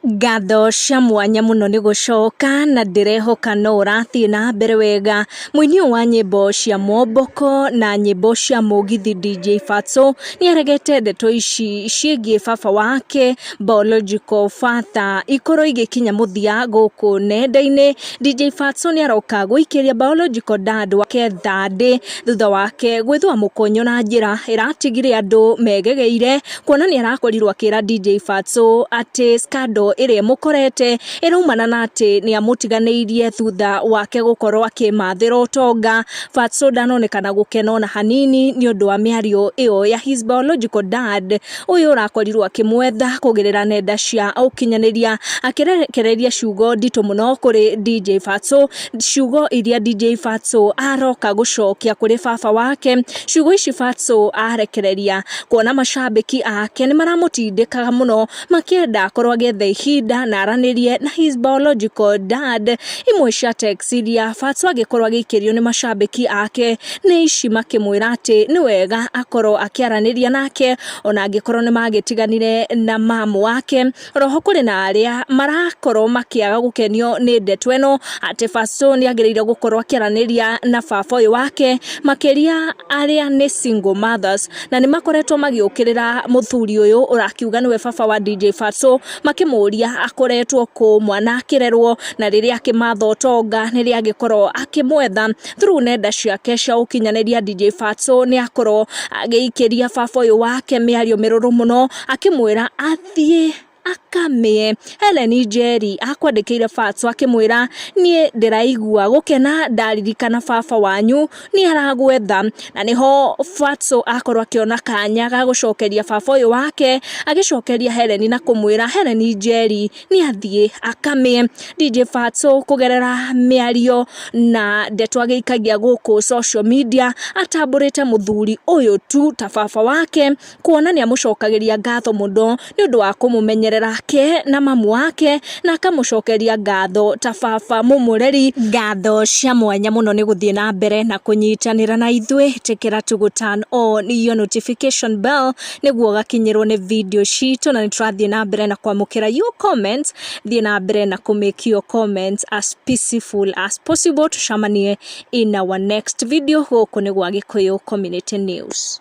Ngatho cia mwanya mũno nĩ gũcoka na ndĩrehoka no ũrathiĩ na mbere wega. Mũini ũyũ wa nyĩmbo cia momboko na nyĩmbo cia mũgithi DJ Fatso nĩ aregete ndeto ici ciĩgiĩ baba wake biological father ikorwo igĩkinya mũthia gũkũ nenda-inĩ. DJ Fatso nĩ aroka gũikĩria biological dad wake thandĩ thutha wake gwĩthũa mũkonyo na njĩra ĩratigire andũ megegeire. kuona nĩ arakorirwo akĩra DJ Fatso atĩ scandal ĩrĩa ĩmũkorete ĩraumana na atĩ nĩ amũtiganĩirie thutha wake gũkorwo akĩmathĩra ũtonga. Fatso ndanonekana gũkena ona hanini nĩ ũndũ wa mĩario ĩyo ya his biological dad ũyũ ũrakorirwo akĩmwetha kũgerera nenda cia ũkinyanĩria akĩrekereria ciugo nditũ mũno kũrĩ DJ Fatso ciugo iria DJ Fatso aroka gũcokia kũrĩ baba wake ciugo ici Fatso arekereria kuona macambĩki ake nĩ maramũtindĩkaga mũno makĩenda akorwo agĩetha ihinda na aranĩrie na his biological dad imwe cia text iria Fatso agĩkorwo agĩikĩrio nĩ macambĩki ake nĩ ici makĩmwĩra atĩ nĩ wega akorwo akĩaranĩria nake ona angĩkorwo nĩ magĩtiganire na mamu wake Roho kũrĩ na arĩa marakorwo makĩaga gũkenio nĩ ndeto ĩno atĩ Bacũ nĩ agĩrĩire gũkorwo akĩaranĩria na baba ũyũ wake makĩria arĩa nĩ single mothers na nĩ makoretwo magĩũkĩrĩra mũthuri ũyũ ũrakiuga nĩwe baba wa DJ Bacũ makĩmũria akoretwo kũ mwana akĩrerwo na rĩrĩa akĩmatha ũtonga nĩrĩ agĩkorwo akĩmwetha through nenda ciake cia ũkinyanĩria DJ Bacũ nĩ akorwo agĩikĩria baba ũyũ wake mĩario mĩrũrũ mũno akĩmwĩra athiĩ akamĩe. Helen Njeri akwandĩkĩire Fats akĩmwĩra niĩ ndĩraigua gũkena ndaririkana baba wanyu nĩ aragwetha na nĩho Fats akorwo akĩona kanya ga gũcokeria baba ũyũ wake agĩcokeria Helen na kũmwĩra Helen Njeri nĩ athiĩ akamĩe. DJ Fats kũgerera mĩario na ndeto agĩikagia gũkũ social media atambũrĩte mũthuri ũyũ tu ta baba wake. kuona nĩ amũcokagĩria ngatho mũno nĩ ũndũ wa kũmũmenyerera ke na mamu wake, na akamũcokeria ngatho ta baba mũmũreri. Ngatho cia mwanya mũno nĩ gũthiĩ na mbere na kũnyitanĩra na ithuĩ, ĩtĩkĩra tũ gũ turn on your notification bell nĩguo ũgakinyĩrwo nĩ video citũ, na nĩ tũrathiĩ na mbere na kwamũkĩra your comments, thiĩ na mbere na kũ make your comments as peaceful as possible, tũcemanie in our next video, gũkũ nĩ gwa Gĩkũyũ Community News.